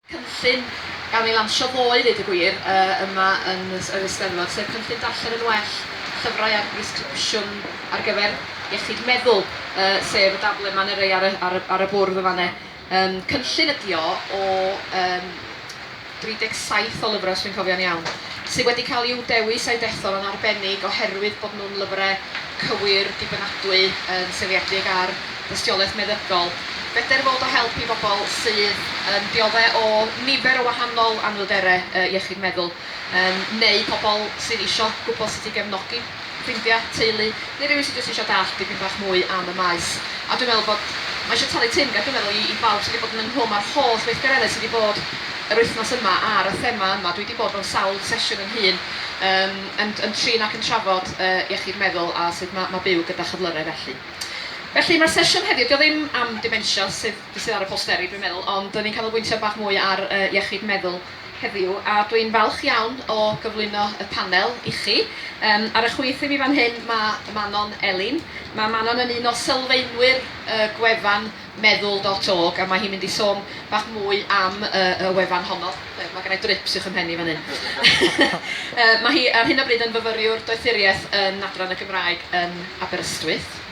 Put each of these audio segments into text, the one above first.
cynllun gawn ni lansio ddoe i ddeud y gwir yma yn yr Eisteddfod, sef cynllun Darllen yn Well, llyfrau ar bresgripsiwn ar gyfer iechyd meddwl, sef y daflen yma neu rai ar y bwrdd yn fan 'na. Cynllun ydy o o... 37 o lyfrau, os dwi'n cofio'n iawn, sydd wedi cael i'w dewis a'u dethol yn arbennig oherwydd bod nhw'n lyfrau cywir, dibynadwy, yn seiliedig ar dystiolaeth meddygol. Beder fod o help i bobl sydd yn dioddef o nifer o wahanol anhwylderau iechyd meddwl, neu pobl sydd eisiau gwybod sut i gefnogi. ffrindiau, teulu, neu rywun sydd jyst eisiau dallt dipyn bach mwy am y maes. A dwi'n meddwl bod... mae eisiau talu timg ar gyfer o i bawb sydd wedi bod yn fy nghwm a'r holl weithgareddau sydd wedi bod yr wythnos yma ar y thema yma. Dwi wedi bod mewn sawl sesiwn yn hŷn yym yn yn trin ac yn trafod yy iechyd meddwl a sut ma' ma' byw gyda chyflyrau felly. Felly mae'r sesiwn heddiw, 'di o ddim am dementia sydd sydd ar y posteri dwi'n meddwl, ond 'da ni'n canolbwyntio bach mwy ar yy iechyd meddwl. heddiw a dwi'n falch iawn o gyflwyno y panel i chi. Yym, ar y chwith i fi fan hyn mae Manon Elin. Mae Manon yn un o sylfaenwyr y gwefan Meddwl dot org a mae hi'n mynd i sôn bach mwy am y, y wefan honno. Yy, mae gennai drips uwch 'y mhen i fan hyn. Yy, mae hi ar hyn o bryd yn fyfyriwr doethuriaeth yn Adran y Gymraeg yn Aberystwyth.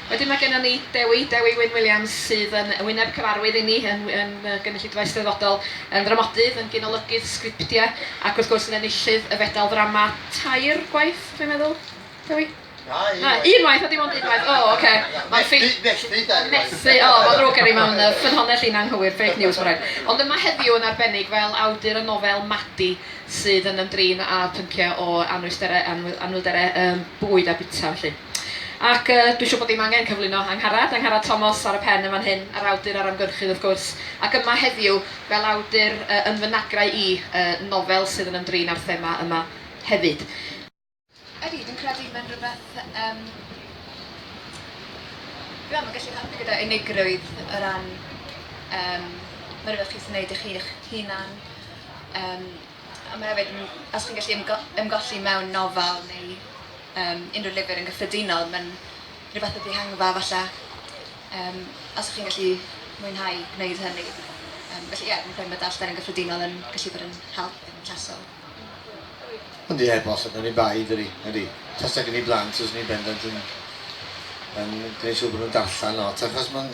Wedyn mae gennon ni Dewi, Dewi Wyn Williams, sydd yn wyneb cyfarwydd inni yn yn gynulleidfa eisteddfodol, yn ddramodydd, yn gynolygydd sgriptiau ac wrth gwrs yn enillydd y Fedal Ddrama tair gwaith, dwi'n meddwl, Dewi? Na, un waith. Un waith, o dim ond un waith, o ocê. Methu, methu dair gwaith. Methu, o, mae'n ddrwg gen i, mae'n ffynhonnell i'n anghywir, fake news mae'n rhaid. Ond yma heddiw yn arbennig fel awdur y nofel 'Madi' sydd yn ymdrin â phynciau o anwysterau, anwyl- anhwylderau yym bwyd a bwyta felly. Ac yy, dwi siŵr bod dim angen cyflwyno Angharad, Angharad Tomos ar y pen yn fan hyn, a'r awdur a'r ymgyrchydd wrth gwrs, ac yma heddiw fel awdur yy yn fy nagrau i, yy nofel sydd yn ymdrin â'r thema yma hefyd. Ydy, dwi'n credu mae'n rhywbeth yym dwi am yn gallu helpu gyda unigrwydd o ran yym, mae'n rhywbeth chi sy'n neud i chi'ch hunan, yym, A mae hefyd yn, os chi'n gallu ymgo- ymgolli mewn nofel neu yym unrhyw lyfr yn gyffredinol, mae'n rhyw fath o ddihangfa falle, yym, os chi'n gallu mwynhau gwneud hynny. Yym, felly ie, fi'n credu mae darllen yn gyffredinol yn gallu bod yn help yn llesol. Ond ie, bosib, na ni bai, dydi? Ydi. Tasa gen i blant, fyswn i'n bendant yn yn gwneud siŵr bod nhw'n darllen lot, achos mae'n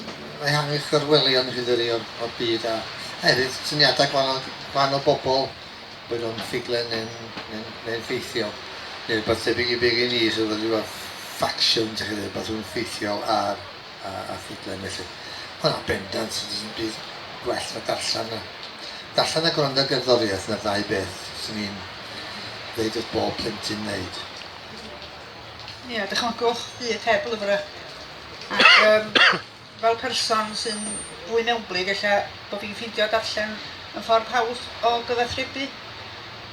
ehangu chwerwelion i chi, dydi, o'r, o'r byd, a hefyd syniadau gwahanol Rhan o bobl, boed o'n ffuglen neu'n neu'n neu'n ffeithiol, neu rywbeth tebyg i be' gen i sydd yn ryw fath faction dach chi'n ddeud, rywbeth rhwng ffeithiol a a a ffuglen felly. O na, bendant, does dim byd gwell na darllen a darllen a gwrando ar gerddoriaeth, 'na'r ddau beth swn i'n ddeud wrth bob plentyn wneud. Ia, dychmygwch byd heb lyfrau ac yym Fel person sy'n fwy mewnblyg ella bod fi'n ffeindio darllen yn ffordd hawdd o gyfathrebu.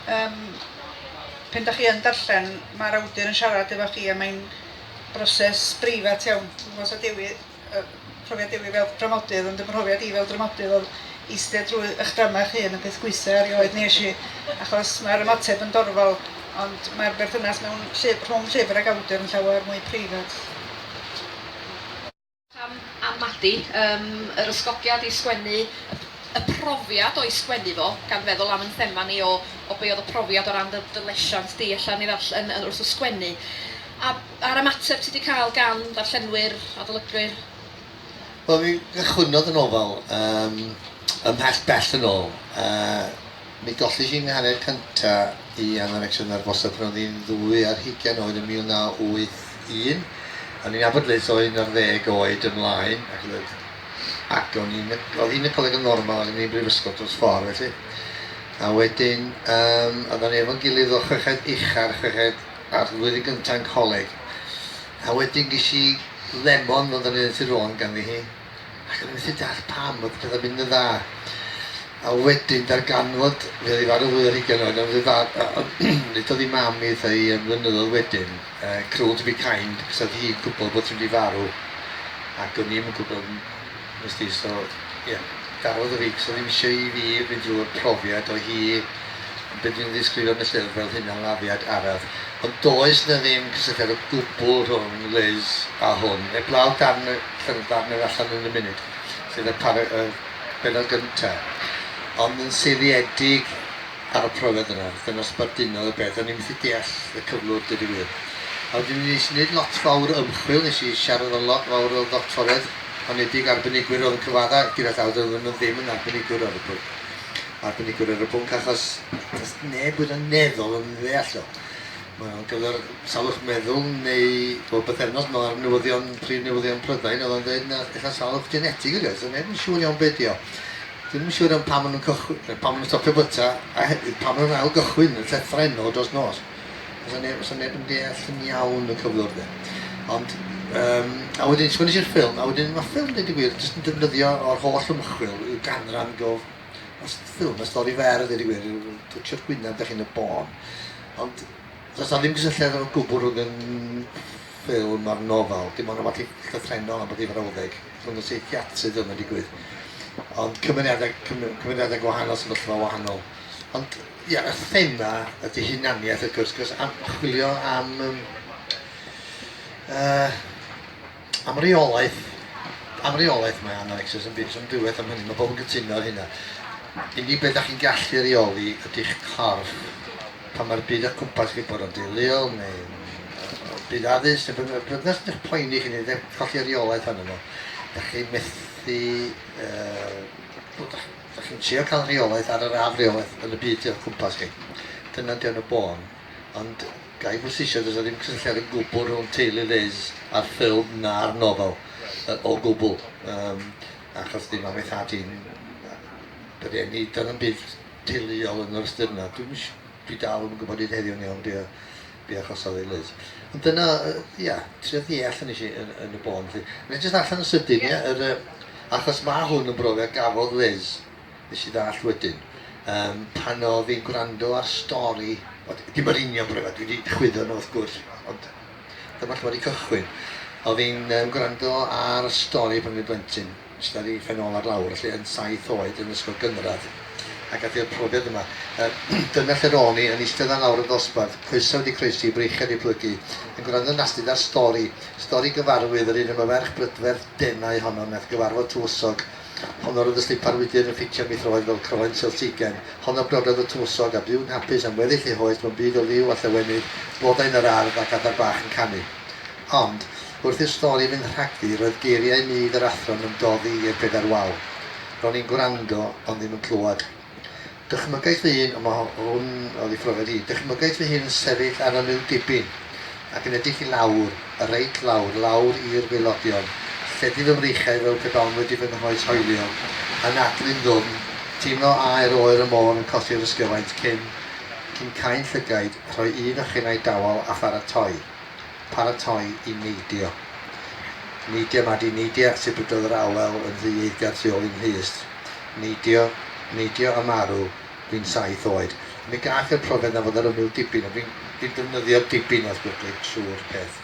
Yym pan 'da chi yn darllen mae'r awdur yn siarad efo chi a mae'n broses breifat iawn. Dwi'm yn gwybod os oedd Dewi yy profiad Dewi fel dramodydd ond fy mhrofiad i fel dramodydd oedd eistedd drwy eich drama eich hun yn peth gwaetha' erioed nes i achos mae'r ymateb yn dorfol ond mae'r berthynas mewn llyf- rhwng llyfr ac awdur yn llawer mwy preifat. Pam am Madi? Yym, yr ysgogiad i sgwennu, y profiad o'i sgwennu fo, gan feddwl am 'yn thema ni o o be' odd y profiad o ran dy dy lesiant di ella yn ei ddarll- yn yn wrth y sgwennu. A a'r ymateb ti di ca'l gan ddarllenwyr, adolygwyr? Wel mi gychwynnodd y nofel yym ymhell bell yn ôl yy Mi golli hi'n hanner cynta i Anna Fecsiwn ar Fosda pan oedd hi'n ddwy ar hugain oed yn 1981. O'n i'n nabod Liz o un ar ddeg oed ymlaen ac oedd oedd ac o'n i'n oedd hi'n y coleg yn normal ac o'n i'n brifysgol dros ffordd felly. A wedyn um, oedd o'n efo'n gilydd o chweched uchar, chweched a'r flwyddyn gyntaf yn coleg. A wedyn gysi lemon fel da ni'n dweud tu rôn ganddi hi. ac o'n i'n methu deall pam oedd pethau'n mynd yn dda. A wedyn darganfod, fe oedd ei farw fwy ar hugain oed, ond fe far... nid oedd ei mam i eitha i yn flynyddoedd wedyn, uh, cruel to be kind, cos oedd hi'n gwybod bod hi'n wedi farw, ac o'n i'n gwybod, nes di, so, ie, yeah, darodd y fi, cos oedd ddim eisiau i fi fynd drwy'r profiad o hi Be dwi'n ddisgrifio yn y llyfr fel hunanladdiad araf. Ond does 'na ddim cysylltiad o gwbl rhwng Liz a hwn, heblaw darn y llynfa mewn Allan yn y Munud, sef y para- y bennod gynta'. Ond yn seiliedig ar y profiad yna, wrth i nosbarth dynol y bedd, o'n i methu deall y cyflwr deud y gwir. A wedyn nes i neud lot fawr o ymchwil, nes i siarad efo lot fawr o ddoctoriaid honedig, arbenigwyr o'dd yn cyfadda' gyda llaw, doedden nhw ddim yn arbenigwr ar y pryd. arbenigwr ar y pwnc achos does neb wir yn meddwl yn ddeall o. Mae o'n gyfer salwch meddwl neu bob bythefnos mae'r newyddion, prif newyddion Prydain oedd o'n dweud na eitha salwch genetig ydy o, so neb yn siŵr iawn beth ydy o. Ddim yn siŵr am pam maen nhw'n cychwyn, pam maen nhw'n stopio byta a hefyd pam maen nhw'n ail gychwyn y llethrau yno dros nos. Does 'na neb, does 'na neb yn deall yn iawn y cyflwr de. Ond, um, a wedyn, sgwni i'r ffilm, a wedyn mae ffilm, dweud y gwir, jyst yn defnyddio o'r holl ymchwil i'w ganran go... Mae ffilm, mae stori fer, dweud y gwir, yw twtio'r gwynaf da chi'n y bôn. Ond, does na ddim gysylltiad o'r gwbl rhwng yn ffilm a'r nofel. Dim ond rhywbeth llythrenol am bod ei frawddeg. Rhwng y seithiatrydd yma digwydd. Ond cymeriadau, cymeriadau gwahanol, sefyllfa wahanol. Ond, Ia, y thema ydy hunaniaeth wrth gwrs, cos am, chwilio am, um, uh, am reolaeth, am reolaeth mae anorexia yn byd, so am ddiwedd am hynny, mae pobl yn gytuno ar hynna. Unig beth ydych chi'n gallu reoli ydy'ch corff pan mae'r byd o cwmpas chi bod o'n dilil neu o byd addysg neu beth bynnag, nes ydych poeni chi neu colli reolaeth arno fo. Da chi methu... Uh, Dach chi'n trio cael rheolaeth ar yr afreolaeth yn y byd tu o'ch cwmpas chi. Dyna ydy o'n y bôn. Ond ga i bwysleisio, does 'na ddim cysylltiad o gwbl rhwng teulu Liz a'r ffilm na'r nofel. Yy o gwbl. Yym achos dim am ei thad hi'n yy yr eni. Doedd 'na'm byd teuluol yn yr ystyr 'na. Dwi'm yn si- dwi dal ddim yn gwybod hyd heddiw'n iawn be' o be achosodd ei lys. Ond dyna, ia, trio ddeall yn eisiau yn, yn y bôn. Felly, mae'n jyst allan yn sydyn, ia, yr, achos mae hwn yn brofiad gafodd Liz, nes i ddall wedyn, um, pan o fi'n gwrando ar stori, dim yr union brofiad, dwi wedi chwyddo nhw wrth gwrs, ond dyma lle wedi cychwyn. O fi'n um, gwrando ar stori pan fi'n blentyn, Ista ar ei phen ôl ar lawr, felly, yn saith oed, yn ysgol gynradd, ac aeth i'r profiad yma. Dyna lle ro'n i, yn eistedd ar lawr y ddosbarth, coesau wedi croesi, i breichiau wedi plygu, yn gwrando yn astud ar stori, stori gyfarwydd yr un am y ferch brydferth denau honno wnaeth gyfarfod tywysog, honno'r oedd y slipar wydr yn ffitio am ei throed fel croen seltsigem, honno brododd y tywysog, a byw'n hapus am weddill ei hoes mewn byd o liw a llewenydd, blodau yn yr ardd ac adar bach yn canu. Ond. Wrth i'r stori fynd rhagddi, roedd geiriau mudd yr athro'n ymdoddi i'r bedair wal. Ro'n i'n gwrando, ond ddim yn clywed. Dychmygais fy hun, ond mae hwn oedd ei phrofiad hi, dychmygais fy hun yn sefyll ar ymyl dibyn, ac yn edrych i lawr, reit lawr, lawr i'r waelodion, lledu fy mreichiau fel pe bawn wedi fy nghoes hoelio, yn adlu'n ddwfn, teimlo aer oer y môr yn cosi'r ysgyfaint cyn, cyn cau'n llygaid, rhoi un ochena'i dawel a pharatoi. paratoi i neidio. Neidio, Madi, neidio ac tybyddodd yr awel yn rhy eiddgar tu ôl i'n nhys. Neidio, neidio a marw, fi'n saith oed. Mi gath e'r profiad 'na fod ar ymyl dibyn a fi'n fi'n defnyddio dibyn wrth gwrclyd trwy'r peth.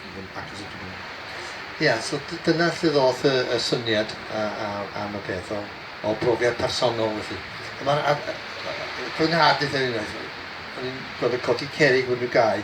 Ia, so dyna lle ddoth y y syniad a a am y peth o o brofiad personol felly. A ma'r a a a fy nhad dditha fi unwaith, o'n i'n gorfod codi cerrig mewn rhyw gae,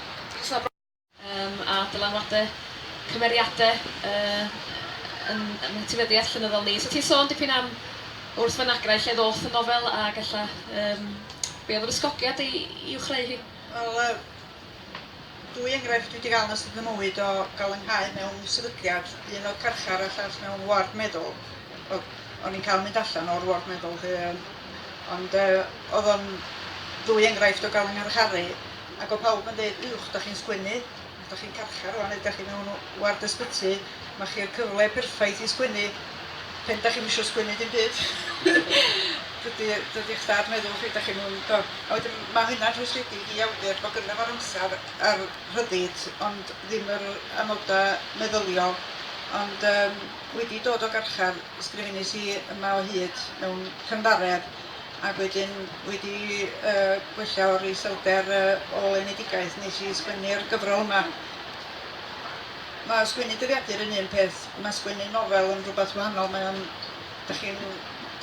Cyson o brofiad a dylanwade cymeriade yn yn etifeddiaeth llenyddol ni. So ti'n sôn dipyn am wrth fynagrau lle ddoth y nofel ag ella yym be oedd yr ysgogiad i i'w chreu hi? Wel yy dwy enghraifft dwi 'di ga'l yn ystod fy mywyd o ga'l 'y nghau mewn sefydliad, un o'dd carchar a llall mewn ward meddwl. Wel o'n i'n ca'l mynd allan o'r ward meddwl 'lly yym ond yy o'dd o'n ddwy enghraifft o ga'l 'y ngharcharu. Ac o pawb yn deud uwch dach chi'n sgwennu, dach chi'n carchar rwan neu dach chi mewn ward ysbyty, ma chi'r cyfle perffaith i sgwennu pen dach chi'm isio sgwennu dim byd. dydy dydy eich dad meddwl chi dach chi'n mewn do. A wedyn ma hynna'n rhwystredig i awdur bod gynno fo'r amser a'r rhyddid ond ddim yr amoda meddyliol ond yym wedi dod o garchar ysgrifenus i yma o hyd mewn cynddaredd Ac wedyn wedi gwella o'r iselder ôl enedigaeth nes i sgwennu'r gyfrol 'ma. Mae sgwennu dyddiadur yn un peth, mae sgwennu nofel yn rhywbeth wahanol, mae o'n... dach chi'n...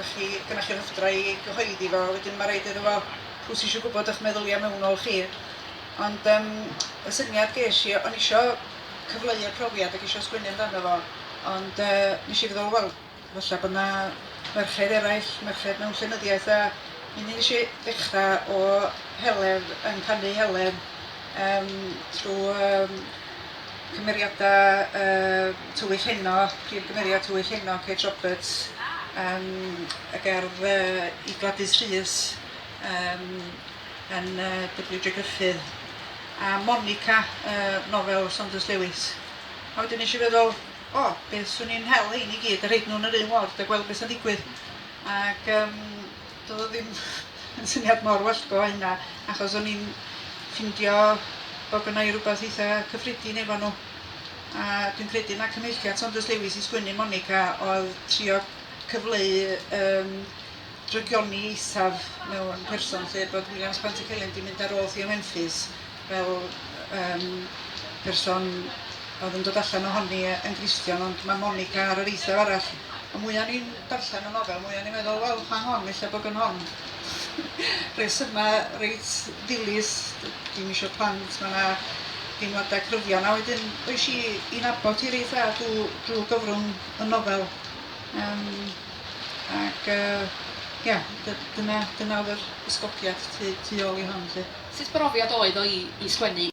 dach chi... gynnoch chi'r rhyfdra i gyhoeddi fo, wedyn ma' raid iddo fo... pw sy isio gwybod eich meddylia mewnol chi? Ond yym y syniad ges i, o'n i isio cyfleu y profiad ac isio sgwennu amdano fo ond yy nes i feddwl wel... Falla bod 'na ferched eraill, merched mewn llenyddiaeth a mi nes i ddechra o heledd yn canu heledd yym trw yym cymeriada yy Tywyll Heno, prif gymeriad Tywyll Heno, Kate Roberts yym y gerdd yy i Gladys Rhys yym yn yy Double-you Dre Gruffydd a Monica yy nofel Saunders Lewis. A wedyn nes i feddwl O, be 'swn i'n hel rhein i gyd a rhoid nhw yn yr un ward a gweld beth sy'n digwydd. Ac um, doedd o ddim yn syniad mor wellgo a hynna, achos o'n i'n ffindio bod gynna i rhywbeth eitha cyffredin efo nhw. A dwi'n credu na cyfeilliad Saunders Lewis i sgwennu Monica oedd trio cyfleu um, drygioni eithaf mewn person lle bod Williams Pantycelyn di mynd ar ôl Theo Memphis fel yym person oedd yn dod allan ohoni yn Gristion ond mae Monica ar yr eithaf arall. Y mwya o'n i'n darllen y nofel mwya o'n i'n meddwl wel pa hon ella bod yn hon. Rhesyma reit ddilys, dim isio plant, mae yna deimladau cryfion a wedyn oes i i nabod hi reit dda drwy, drwy gyfrwng y nofel. Um, ac uh, ia, dyna, dyna oedd yr ysgogiad tu, tu ôl i hon. Lle. Sut brofiad oedd o i sgwennu?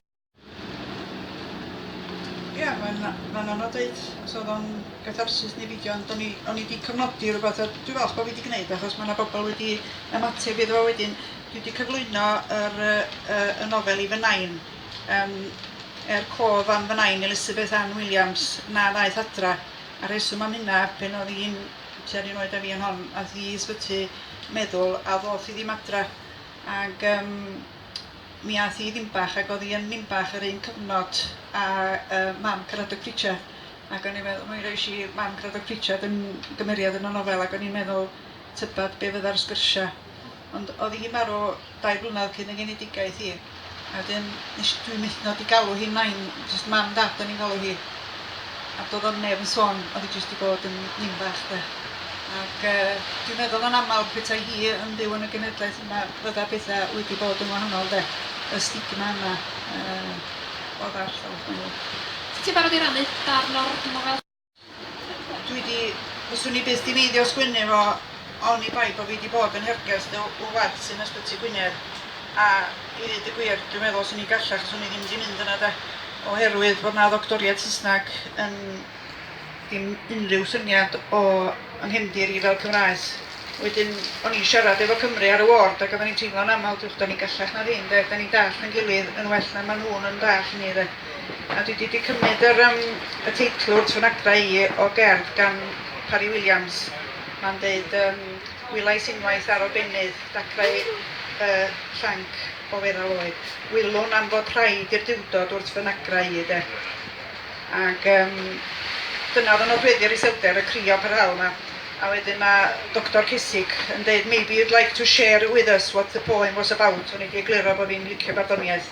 Ia mae'n mae'n anodd deud os oedd o'n gatharsis neu beidio ond o'n i o'n i 'di cofnodi rwbath a dwi falch bo' fi 'di gneud achos ma' 'na bobl wedi ymateb iddo fo wedyn. Dwi 'di cyflwyno yr yy yy y nofel i fy nain yym er cof am fy nain Elizabeth Ann Williams na ddaeth adra. A rheswm am hynna pan o'dd 'i'n tua'r un oed a fi yn hon ath 'i i ysbyty meddwl a ddoth 'i ddim adra. Ac yym mi ath hi i Ninbach ac o'dd hi yn Ninbach yr un cyfnod a yy mam Caradog Pritchard ac o'n i'n meddwl mi rois i mam Caradog Pritchard yn gymeriad yn y nofel ac o'n i'n meddwl tybad be' fydda'r sgyrsia ond o'dd hi'n marw dau flynedd cyn ei genedigaeth hi. A wedyn nes i... Dwi'n methu dod i galw hi nain, jyst mam dad o'n i'n galw hi. A doedd o'm neb yn sôn, oedd hi jyst 'di bod yn nin bach 'de. Ac yy dwi'n meddwl yn aml petai hi yn byw yn y genedlaeth yma fydda petha wedi bod yn wahanol 'de. Y stigma yna yy oedd ar llawr gwaelod. Ti'n barod i rannu darn o'r nofel? Dwi di... Fyswn i byth di meiddio sgwennu fo oni bai bo fi di bod yn hergest y wlad sy'n Ysbyty Gwynedd a i ddeud y gwir dwi'n meddwl swn i'n gallach swn i ddim di mynd yna de oherwydd bod na ddoctoriaid Saesneg yn dim unrhyw syniad o yng nghefndir i fel Cymraes. Wedyn o'n i'n siarad efo Cymru ar y ward ac oedden ni'n teimlo'n aml diwch da ni'n gallach na ddim de, da ni'n dallt yn gilydd yn well na maen nhw'n yn dallt ni de. A dwi 'di 'di cymryd yr yym y teitl wrth fy nagfa i o gerdd gan Parry Williams. Ma'n deud yym Wylais unwaith ar obennydd dacrau y llanc o feddal oed. Wylwn am fod rhaid i'r Duwdod wrth fy nagra i de. Ac yym dyna oedd yn nodweddu'r iselder, y crio parhaol 'ma. A wedyn mae Doctor Cesig yn deud maybe you'd like to share with us what the poem was about. O'n i 'di egluro bod fi'n licio barddoniaeth.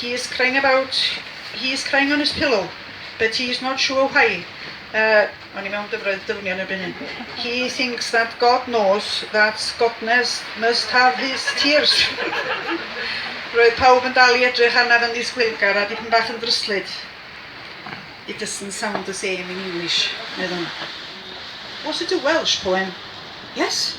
He is crying about He is crying on his pillow but he is not sure why O'n i mewn dyfroedd dyfnion erbyn hyn. He thinks that God knows that Godnes must have his tears. Roedd pawb yn dal i edrych arnaf yn ddisgwylgar a dipyn bach yn ddryslyd. It doesn't sound the same in English, meddwn. Was it a Welsh poem? Yes?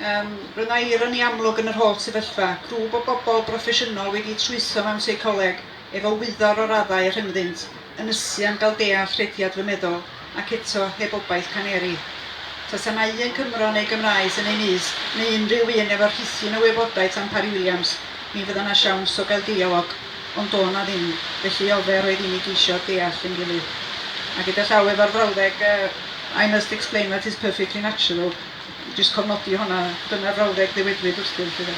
Yym, roedd 'na ironi amlwg yn yr holl sefyllfa, grŵp o bobl broffesiynol wedi trwytho mewn seicoleg efo wyddor o raddau a rhyngddynt, ynysu am gael deall rhediad fy meddwl, ac eto, heb obaith caneri. Tasa 'na un Cymro neu Gymraes yn ei nyst, neu unrhyw un efo rhithyn o wybodaeth am Parry Williams, mi fydda 'na siawns o gael deialog. Ond do' 'na ddim, felly ofer oedd i ni geisio deall ein gilydd. A gyda llaw efo'r frawddeg yy 'I must explain that is perfectly natural', jyst cofnodi honna, dyna'r frawddeg ddywedwyd wrthyf, 'lly 'de.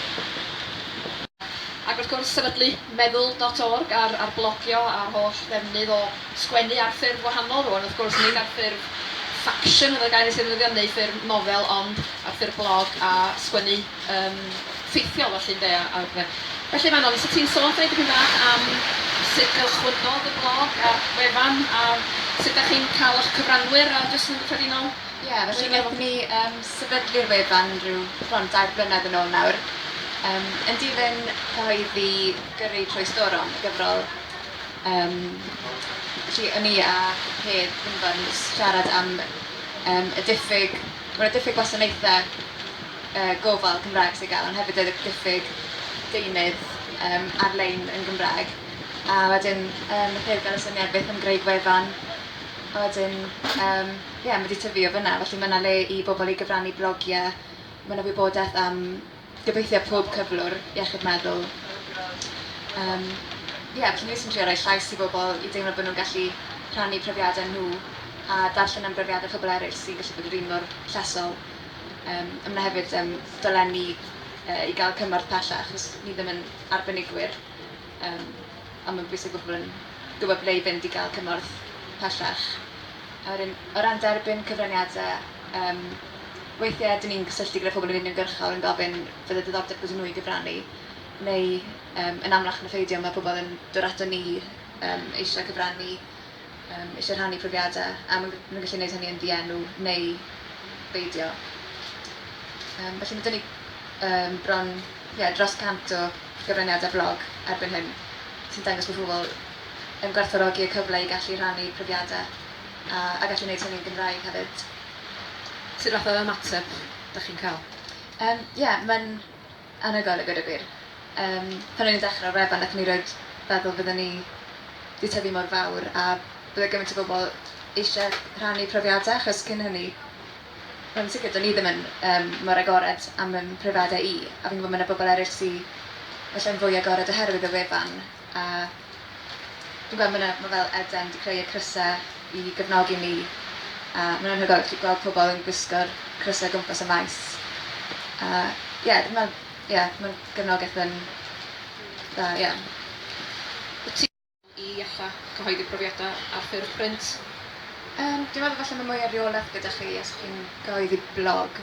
Ac wrth gwrs, sefydlu Meddwl dot org a'r a'r blogio a'r holl ddefnydd o sgwennu ar ffurf gwahanol rŵan, wrth gwrs, nid ar ffurf faction oedd y gair nes i ddefnyddio, neu ffurf nofel, ond ar ffurf blog a sgwennu yn ffeithiol felly ynde a a pethau. Felly Manon, so ti'n sôn dipyn dipyn bach am sut gychwynnodd y blog a'r wefan a sut dach chi'n cael eich cyfranwyr a jyst yn gyffredinol? Ie, felly wnaethon ni yym sefydlu'r wefan ryw bron dair blynedd yn ôl nawr yym yn dilyn cyhoeddi Gyrru Trwy Storom, y gyfrol yym felly o'n i a Hedd Wynborn yn jyst siarad am yym y diffyg... bod 'na diffyg gwasanaethau gofal Cymraeg sydd gen, ond hefyd oedd y diffyg deunydd ar-lein yn Gymraeg. A wedyn, um, nath hefyd gael y syniad beth am greu gwefan. A wedyn, um, ie, yeah, mae wedi tyfu o fyna, felly mae yna le i bobl i gyfrannu blogiau. Mae yna wybodaeth am gobeithio pob cyflwr iechyd meddwl. Um, ie, yeah, felly ni sy'n trio rhoi llais i bobl i deimlo bod nhw'n gallu rhannu profiadau nhw a darllen am brofiadau pobl eraill sy'n gallu bod yr un mor llesol. Yym a ma' 'na hefyd yym dolenni yy i ga'l cymorth pellach achos ni ddim yn arbenigwyr yym a ma'n bwysig bo' pobol yn gwbod ble i fynd i ga'l cymorth pellach. A wedyn o ran derbyn cyfraniade yym weithie 'dyn ni'n cysylltu gyda pobol yn uniongyrchol yn gofyn fydde diddordeb gyda n'w i gyfrannu neu yym yn amlach na pheidio ma' pobol yn dod aton ni yym eisiau cyfrannu Yym, eisiau rhannu profiadau, a maen nhw'n gallu gwneud hynny yn ddienw neu beidio. Yym, felly mae 'da ni yym, bron ie, dros 100 o gyfraniadau blog erbyn hyn sy'n dangos bod pobl yn gwerthfawrogi y cyfle i gallu rhannu profiadau a, a gallu gwneud hynny'n Gymraeg hefyd. Sut fath o ymateb dach chi'n cael? Yym, ie, mae'n... anhygoel a gweud y gwir. Yym, pan o'n i'n dechrau'r wefan nathon ni rioed feddwl fydden ni 'di tyfu mor fawr a bydde gymaint o bobl eisie rhannu profiadau achos cyn hynny wel yn sicr do'n i ddim yn yym mor agored am fy mhrofiadau i a fi'n gwybod ma' 'na bobl eryll sy ella'n fwy agored oherwydd y wefan a Dwi'n gweld ma' 'na, ma' fel Eden 'di creu y crysa i gefnogi ni a ma'n anhygoel gallu gweld pobl yn gwisgo'r crysa o gwmpas y maes a ie ma' ie ma'n gefnogeth yn dda ie. Wyt ti'n meddwl i alla cyhoeddi profiadau ar ffurf print? Yym dwi'n meddwl falle ma' mwy o reolaeth gyda chi os chi'n cyhoeddi blog.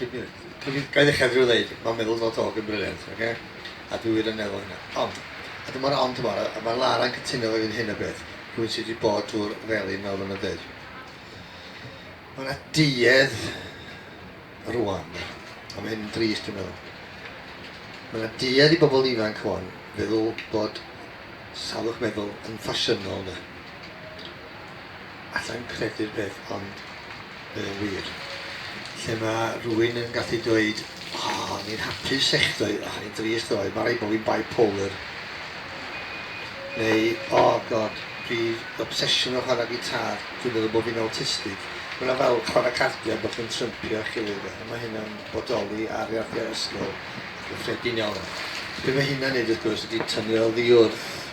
ga i ddechrau drwy ddeud, mae'n meddwl fod Hogg yn briliant, oce? A dwi wir yn meddwl hynna. Ond, a dyma'r ond yma, a mae Lara'n cytuno efo fi yn hyn o beth, rhywun sydd wedi bod drwy'r felin fel fy'n dweud. Mae yna duedd rwan, a mae hyn yn drist dwi'n meddwl. Mae yna duedd i bobl ifanc rwan feddwl bod salwch meddwl yn ffasiynol yna. alla i'm credu'r peth ond mae o'n wir, lle mae rhywun yn gallu dweud o o'n i'n hapus echddoe o o'n i'n drist ddoe, mae rhaid bod fi'n bipolar neu o god fi obsesiwn o chwarae gitar, dwi'n meddwl bod fi'n awtistig. Mae yna fel chwarae cardiau bod chi'n trympio eich gilydd a mae hynna'n bodoli ar iardiau ysgol a chyffredin iawn. Be mae hynna'n neud wrth gwrs ydy tynnu oddi wrth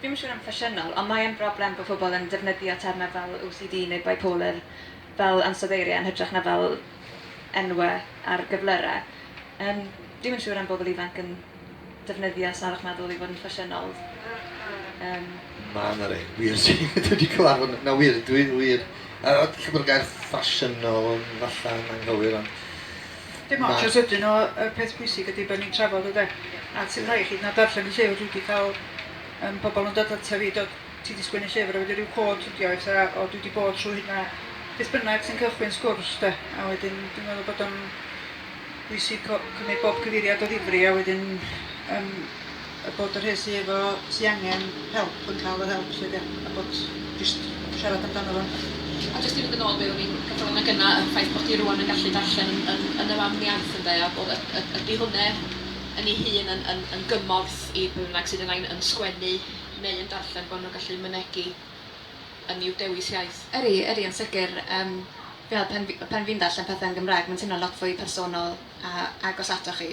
Dwi'm yn siŵr am ffasiynol, ond mae yn broblem bod pobl yn defnyddio termau fel OCD neu bipolar fel ansoddeiriau yn hytrach na fel enwau ar gyflyrau. Yym, dwi'm yn siŵr am bobl ifanc yn defnyddio salwch meddwl i fod yn ffasiynol. Yym. Ma' 'na rei wir sy dwi wedi cyfarfod n- na wir dwi wir yy ella bod y gair ffasiynol yn falla'n anghywir ond Dim ots os ydyn nhw, y peth pwysig ydy bod ni'n trafod ynde. A ti'n rhaid i chi na darllen y llyfr, dwi wedi cael um, pobl yn dod ata fi, dod, ti wedi sgwennu llyfr a wedi rhyw cod ydi o, eitha, o dwi wedi bod trwy hynna, beth bynnag sy'n cychwyn sgwrs de, a wedyn dwi'n meddwl bod o'n bwysig cymryd bob cyfeiriad o ddifri a wedyn um, A bod y rhei sy efo... sy angen help yn cael yr help 'lly de? A bod jyst siarad amdano fo. A jyst i fynd yn ôl be' o'n i'n gadal yn y gynna', y ffaith bod hi rŵan yn gallu darllen yn yn yn y fam iaith ynde, a bod y- y- ydi hwnne yn ei hun yn yn yn gymorth i bwy bynnag sydd yn ain- yn sgwennu neu yn darllen bo' nhw'n gallu mynegi yn i'w dewis iaith? Ydi, ydi yn sicr. Yym fi'n meddwl pan fi pan fi'n darllen pethe yn Gymraeg mae'n teimlo'n lot fwy personol a agos atoch chi.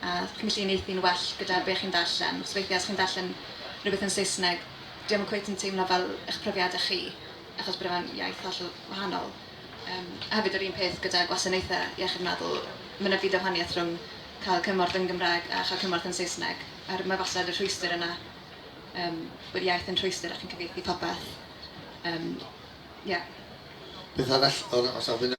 a felly yn eithi'n well gyda be chi'n ddarllen, achos weithiau os chi'n darllen rhywbeth yn Saesneg, dyw e ddim cweit yn teimlo fel eich profiadau chi, achos bod e mewn iaith hollol wahanol. Yym, a hefyd yr un peth gyda gwasanaethau iechyd meddwl, mae yna byd o wahaniaeth rhwng cael cymorth yn Gymraeg a chael cymorth yn Saesneg, a'r mae wastad y rhwystr yna, yym, bod iaith yn rhwystr a chi'n cyfieithu popeth. Yym, ie. Beth arall o ra- o safle...